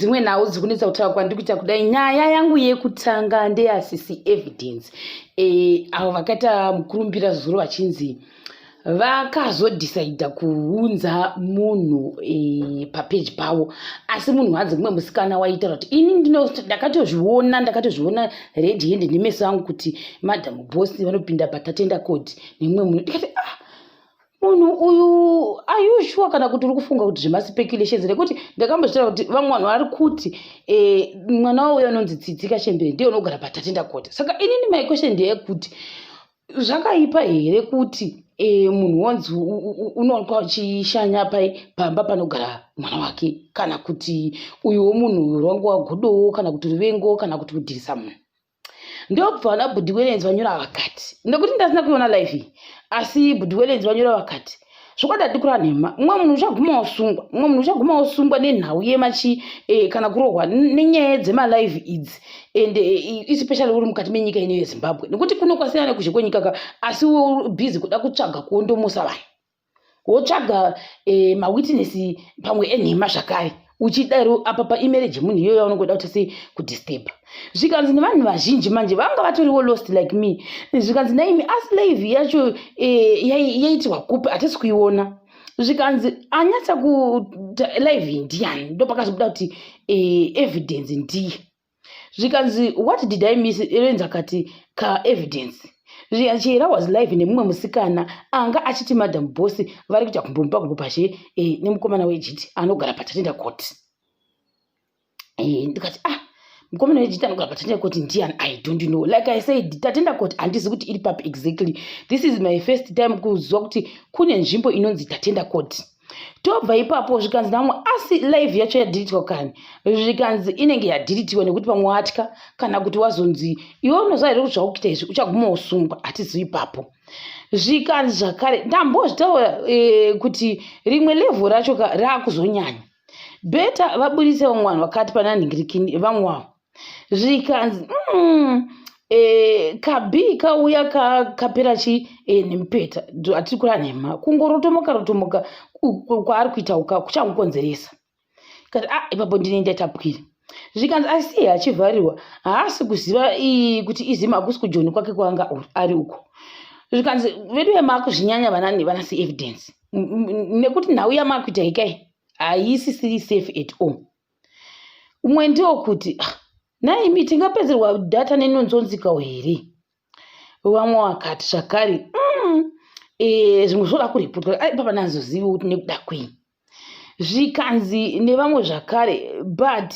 dzimwe nhau dziri kunetsa kutaura kwandiri kuita kudai nyaya yangu yekutanga ndeyasisi evidence e, avo vakaita mukurumbira zuro vachinzi vakazodhisaidha kuunza munhu e, papeji pavo asi munhu hanzi kumwe musikana waitaura kuti ini ndakatozviona ndakatozviona red hand nemeso angu kuti madam boss vanopinda patatenda code nemumwe munhu ndikati ah munhu uyu ayushuwa kana kuti uri kufunga kuti zvemacipeculations nekuti ndakamboziva kuti vamwe vanhu vari kuti eh, mwana wauyo anonzi tsidzika chembere ndiye unogara patatenda kota saka inini my question ndeyekuti zvakaipa here kuti eh, munhu wonzi unoonekwa uchishanya pai pamba panogara mwana wake kana kuti uyuwo munhu uyu rwangu wagodowo kana kuti ruvengo kana kuti kudhirisa munhu ndokubva vana bhudhi welenzi vanyora vakati nekuti ndasina kuiona live iyi asi bhudhi welenzi vanyora vakati zvokwadi atikura nhema mumwe munhu uchaguma wasungwa mumwe munhu uchaguma wasungwa nenhau yemachi e, kana kurohwa nenyaya dzemalive idzi and e, eh, especially uri mukati menyika ino yezimbabwe nekuti kuno kwasiyana nekuzhe kwenyika ka asi busy kuda kutsvaga kuondomusa vanhu wotsvaga eh, mawitness pamwe enhema zvakare uchidaro apa paemarriage yemunhu iyoyo yaunongoda kuti sei kudisturba zvikanzi nevanhu vazhinji manje vanga vatoriwo lost like me zvikanzi naimi aslave yacho eh, yaitirwa kupi hatisi kuiona zvikanzi anyatsa kulive ndiani ndopakazobuda kuti eh, evidence ndiye zvikanzi what did i miss erenzi akati ka evidence chihera was live nemumwe musikana anga achiti madam bosi vari kuita kumbomupa kukupashe e, eh, nemukomana wejiti anogara patatenda court e, eh, ndikati ah mukomana wejiti anogara patatenda court ndian i don't know like i said tatenda court handizi kuti iri papi exactly this is my first time kuziva kuti kune nzvimbo inonzi tatenda court tobva ipapo zvikanzi namwe asi live yacho yadhilitwa kani zvikanzi inenge yadhilitiwa nekuti pamwe watya kana kuti wazonzi iwe unoziva here kuti zvakuita izvi uchaguma usungwa hatizivi ipapo zvikanzi zvakare ndambozvitaura e, kuti rimwe levho racho raakuzonyanya beta vaburitse vamwe vanhu vakati pana nhingirikini vamwe wavo zvikanzi mm, e, eh, kabii kauya kapera ka chii e, eh, nemupeta hatiri kura nhema kungorotomoka rotomoka kwaari kuita uka kuchamukonzeresa kati a ah, ipapo ndine ndatapwira zvikanzi asi iye achivharirwa haasi kuziva kuti izima hakusi kujoni kwake kwanga ari uko zvikanzi vedu vemakuzvinyanya vanani vanasi evidence nekuti nhau yamakuita ikai haisisiri safe at all umwe ndiwo kuti ah, naimi tingapedzerwa data nenonzonzikawo here vamwe vakati zvakare mm, eh, zvimwe zvoda kuripotwa aipapa nazozivi kuti nekuda kwei zvikanzi nevamwe zvakare but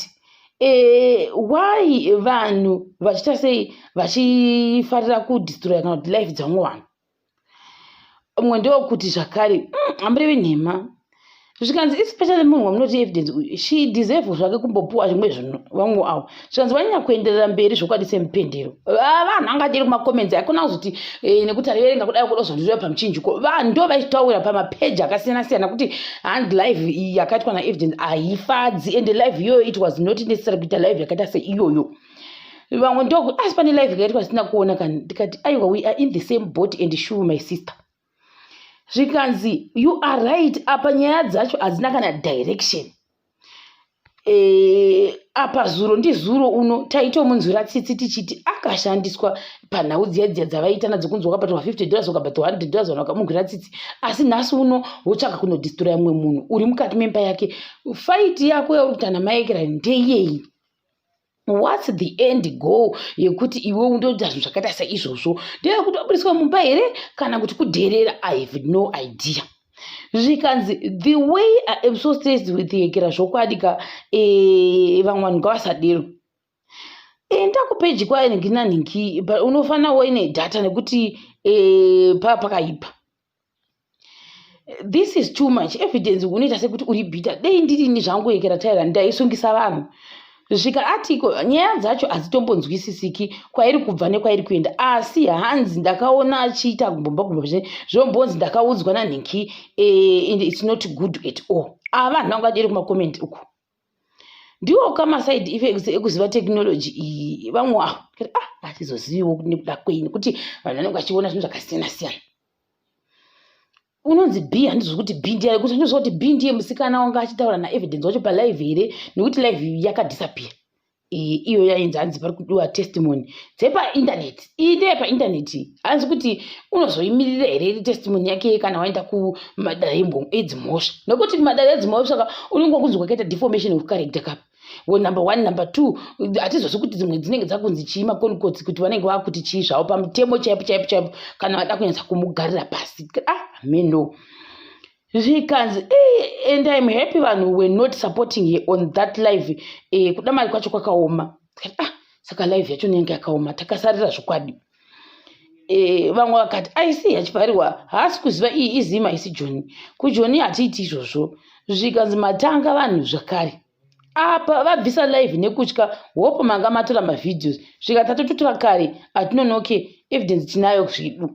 Eh, why vanhu vachiita sei vachifarira kudistroya kana kuti life dzevamwe vanhu umwe ndewokuti zvakare mm, hambirevi nhema zvikanzi especially munhu wamunoti evidence uyu she deserve zvake kumbopuwa zvimwe zvinhu vamwe avo zvikanzi vanyanya kuenderera mberi zvokwadi semupendero ah, vanhu anga achiri kumacomments haikona kuzoti eh, nekuti ariverenga kudai kuda kuzondireva pamuchinjiko vanhu ndo vaitaura pamapeji akasiyana siyana kuti hand live yakaitwa naevidence haifadzi ende live iyoyo it was not necessary kuita live yakaita seiyoyo vamwe ndoku asi pane live kaitwa zvisina kuona kani ndikati aiwa we are in the same boat and shuve my sister zvikanzi you are right apa nyaya dzacho hadzina kana direction Eh, apa zuro ndizuro uno taitomunzwira tsitsi tichiti akashandiswa panhau dziya dziya dzavaiita nadzo kunzi wakabatwa 50 dollars wakabatwa 100 dollars vanhu vakamunzwira tsitsi asi nhasi uno wotsvaka kunodistroya mumwe munhu uri mukati memba yake faiti yako yauri kutana maekera ndeyei whats the end goal yekuti iwe undoita zvinhu zvakaita seizvozvo ndeyekuti wabudiswa mumba here kana kuti kudherera i have no idea zvikanzi the way i am so stressed with yekera zvokwadi ka eh, vamwe vanhu ngavasadero enda kupeji kwainhingi nanhingi unofanira waine data nekuti eh, paa pakaipa this is too much evidence unoita sekuti uri bhita dei ndirini zvangu ekera taira ndaisungisa vanhu svika atiko nyaya dzacho hadzitombonzwisisiki kwairi kubva nekwairi kuenda asi hanzi ndakaona achiita kumbomba kumba zve zvombonzi ndakaudzwa nanhinki e, its not good at all ava ah, vanhu vanga vadiri kumacoment uku ndiwo kama side effects ekuziva technology iyi vamwe avo ah hatizoziviwo nekuda kwei nekuti vanhu vanenge vachiona zvinhu zvakasiyana siyana unonzi b handizvo kuti b ndiye kuti handizvo kuti b ndiye musikana wanga achitaura naevidence wacho palive here nekuti live yakadisappear iyi iyo yainzi hanzi pari kudiwa testimony dzepaintaneti iyi ndeye paintaneti hanzi kuti unozoimirira here iri testimony yake kana waenda kumadare edzimhosva nokuti kumadare edzimhosva ka unenge wakunzi kwakaita deformation of character kapa number one number two hatizosi kuti dzimwe dzinenge dzakunzi chii makonikotsi kuti vanenge vakuti chii zvavo pamutemo chaipo chaipo chaipo kana vada kunyatsa kumugarira pasi ah meno zvikanzi eh, and im happy vanhu were not supporting her on that live eh, kuda mari kwacho kwakaoma ah, saka live yacho nenge yakaoma takasarira zvokwadi eh, vamwe vakati aisi yachipariwa haasi kuziva iyi izima haisi joni kujoni hatiiti izvozvo zvikanzi matanga vanhu zvakare apa vabvisa live nekutya hope manga matora mavhideos svika tatototora kare atinonoke evidence tinayo zvedu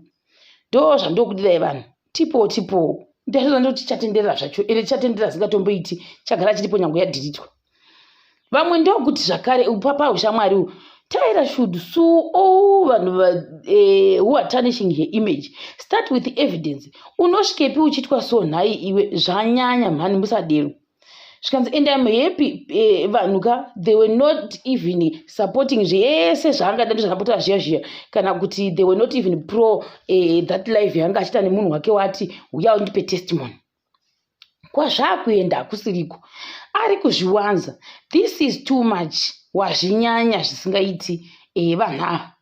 ndo zvandokudirai vanhu tipoo tipoo ndaiona ndoti chatenderera zvacho ere chatenderera zingatomboiti chagara chiripo nyango yadhiritwa vamwe ndokuti zvakare upapa ushamwari u tyra should su o vanhu eh, who are tarnishing her image start with evidence unosvikepi uchitwa so nhai iwe zvanyanya mhani musadero zvikanzi and im happy eh, vanhu ka they were not even supporting zvese zvaangada ndizvakapotera zviya zviya kana kuti they were not even pro eh, that life yaanga achiita nemunhu wake wati huya undipe testimony kwazvaakuenda hakusiriko ari kuzviwanza this is too much wazvinyanya zvisingaiti eh, vanhu ava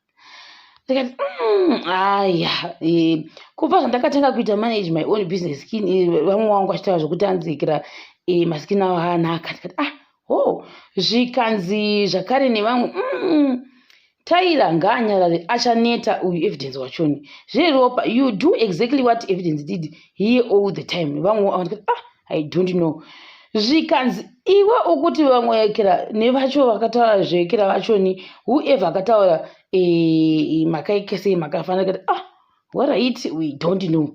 ndikati mm, aya eh, kubva zvandakatanga kuita manage my own business skin eh, vamwe wangu vachitaura zvekuti anzikira eh, maskin avo anaka ndikati ah ho zvikanzi zvakare nevamwe mm, taira ngaanyarare achaneta uyu evidence wachoni zveropa you do exactly what evidence did here all the time vamwe ah i don't know zvikanzi iwe ukuti vamwe ekera nevacho vakataura zveekera vachoni whoever akataura eh, makaikesei makafanira kati ah warit we don't know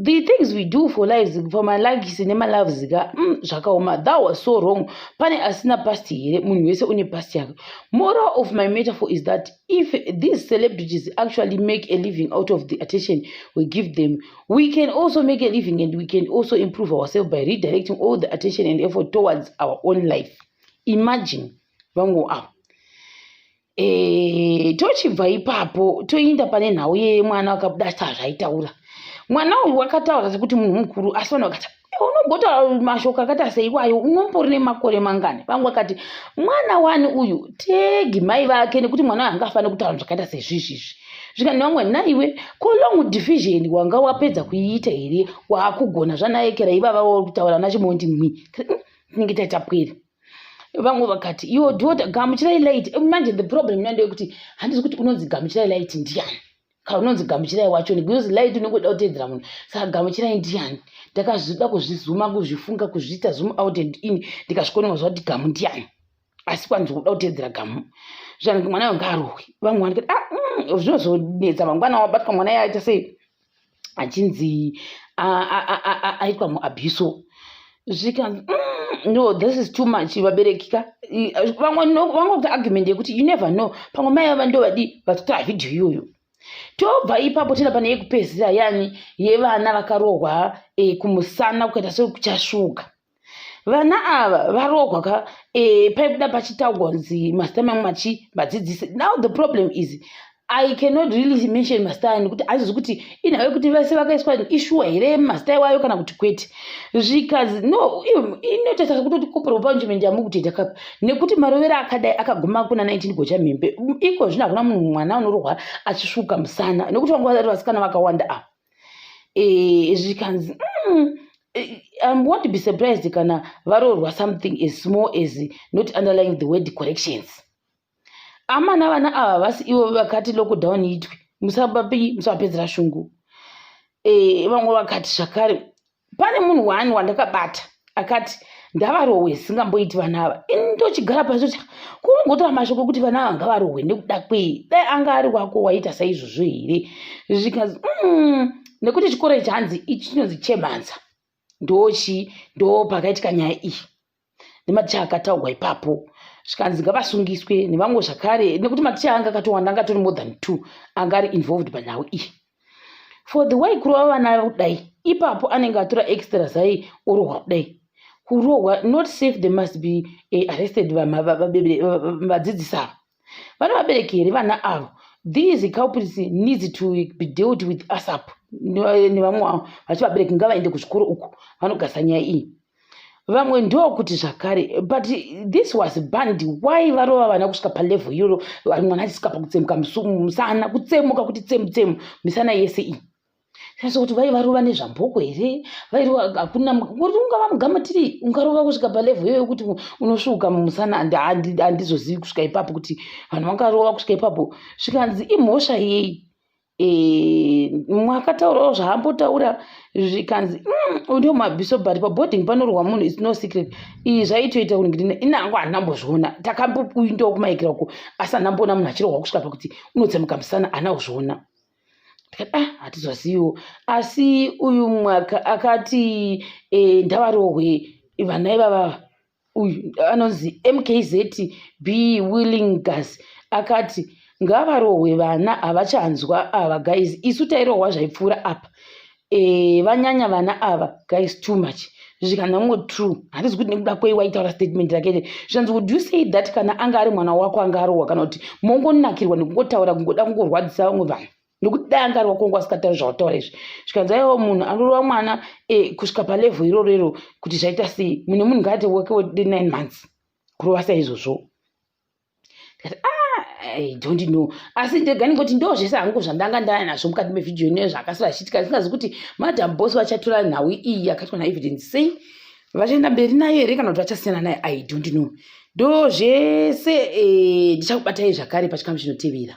the things we do for lives for malikes nemaloves ka mm, zvakaoma that was so wrong pane asina past here munhu wese une past yake moral of my metaphor is that if these celebrities actually make a living out of the attention we give them we can also make a living and we can also improve ourselves by redirecting all the attention and effort towards our own life imagine vangu avo e, eh, tochibva ipapo toinda pane nhau yeye mwana wakabuda sezvaitaura mwana uyu wakataura sekuti munhu mukuru asi vanhu vakati unogotaura mashoko akaita seiwayo unombori nemakore mangani vamwe vakati mwana wani uyu tegi mai vake nekuti mwana anga afane kutaura zvakaita sezvizvizvi zvikani vamwe naiwe ko long division wanga wapedza kuiita here waakugona zvanaekera ivava uri kutaura nachimondi mwi hmm, tinenge taita pwere vamwe vakati yo dota gamuchirai light manje the problem nandeyekuti handisi kuti unonzi gamuchirai light ndiani kaunonzi gamuchirai wacho because light unenge uda kuteedzera munhu saka gamuchirai ndiani ndakazvida kuzvizuma kuzvifunga kuzviita zoom out and in ndikazvikononga zvati gamu ndiani asi kwanzi kuda kuteedzera gamu zvange mwana yo ngaarohwe vamwe vanike ah, mm, zvinozonetsa mangwana wabatwa mwana yaita sei achinzi aitwa muabuso zvikanzi mm, no this is too much vabereki ka vamwe vangobva argument yekuti you never know pamwe mai vava ndo vadii vatotora vhidhiyo iyoyo tobva ipapo tenda pane yekupedzisira yani yevana vakarohwa e, kumusana kukaita sekuchasvuka vana ava varohwa ka e, paibuda pachitaugwa kunzi masita mangu machi vadzidzisi now the problem is i cannot really mention mazita ayo nekuti haizozi kuti inhau yekuti vese vakaiswa ishuwa here mazita iwayo kana kuti kwete zvikazi no inotaisa kutoti kopera panjiment yamu kutoita kapa nekuti marovero akadai akaguma kuna 19 gocha mhembe iko zvino hakuna munhu mwana unorohwa achisvuka musana nekuti vanga vasati vasikana vakawanda ava eh, zvikanzi mm, Eh, I won't be surprised kana varorwa something as small as not underlying the word corrections. amana vana ava vasi ivo vakati lockdown itwe musabapi musapedzera shungu eh, vamwe vakati zvakare pane munhu wani wandakabata akati ndavarohwe singamboiti vana ava ini ndochigara pasi kuti kungotora mashoko ekuti vana ava ngavarohwe nekuda kwei dai anga ari wako waita saizvozvo here zvikanzi mm, nekuti chikoro ichi hanzi ichi chinonzi chemhanza ndochi ndo pakaitika nyaya iyi nematicha akataurwa ipapo zvikanzi ngavasungiswe nevamwe zvakare nekuti maticha anga akatowanda anga atori more than two anga ari involved panhau iyi for the way kurova vana kudai ipapo anenge atora extra zai orohwa kudai kurohwa not safe they must be eh, arrested vadzidzisi ava vane vabereki here vana avo these culprits needs to be dealt with asap nevamwe vavo vachi vabereki ngavaende kuzvikoro uku vanogasa nyaya iyi vamwe ndokuti zvakare but this was band why varova vana kusvika palevel iyoro mwana achisvika pakutsemuka musana kutsemuka kuti tsemu tsemu misana yese iyi Sasa kuti vaivarova nezvamboko here vairova hakuna kuti ungava mugamatiri ungarova kusvika palevho iyoyo kuti unosvuuka mumusana handizozivi kusvika ipapo kuti vanhu vangarova kusvika ipapo zvikanzi imhosva yei eh, mwakataurawo zvaambotaura zvikanzi mm, udio mabhiso but paboarding panorwa munhu is no secret iyi zvaitoita kuti ndine inango handinambozviona takamboindawo kumaikira uko asi handinamboona munhu achirohwa kusvika pakuti unotsemuka musana hana kuzviona ndikati ah hatizoziviwo asi uyu mwaka akati e, eh, ndavarohwe vana ivava uyu anonzi mkz b willing gas akati ngavarohwe vana havachanzwa ava guys isu tairohwa zvaipfuura apa Eh, vanyanya vana ava guys too much zvikanango true handisi kuti nekuda kwei waitaura statement rake ite zvikanzi would you say that kana anga ari mwana wako anga arohwa kana kuti mongonakirwa nekungotaura kungoda kungorwadzisa vamwe vanhu nekuti dai anga ari wako wanga asingatauri zvawataura izvi zvikanzi aiwa munhu anorova mwana eh, kusvika palevel iroro iro kuti zvaita sei mune munhu ngaate wake wode nine months kurova saizvozvo ndikati ah i don't know asi ndega ndingoti ndo zvese hangu zvandanga ndaya nazvo mukati mevhidhiyo inoyo zvaakasara achiitika ndisingazi kuti madam bos vachatora nhau iyi yakaitwa naevidence sei vachaenda mberi nayo here kana kuti vachasiyana nayo i don't know ndo zvese eh, ndichakubatai zvakare pachikamu chinotevera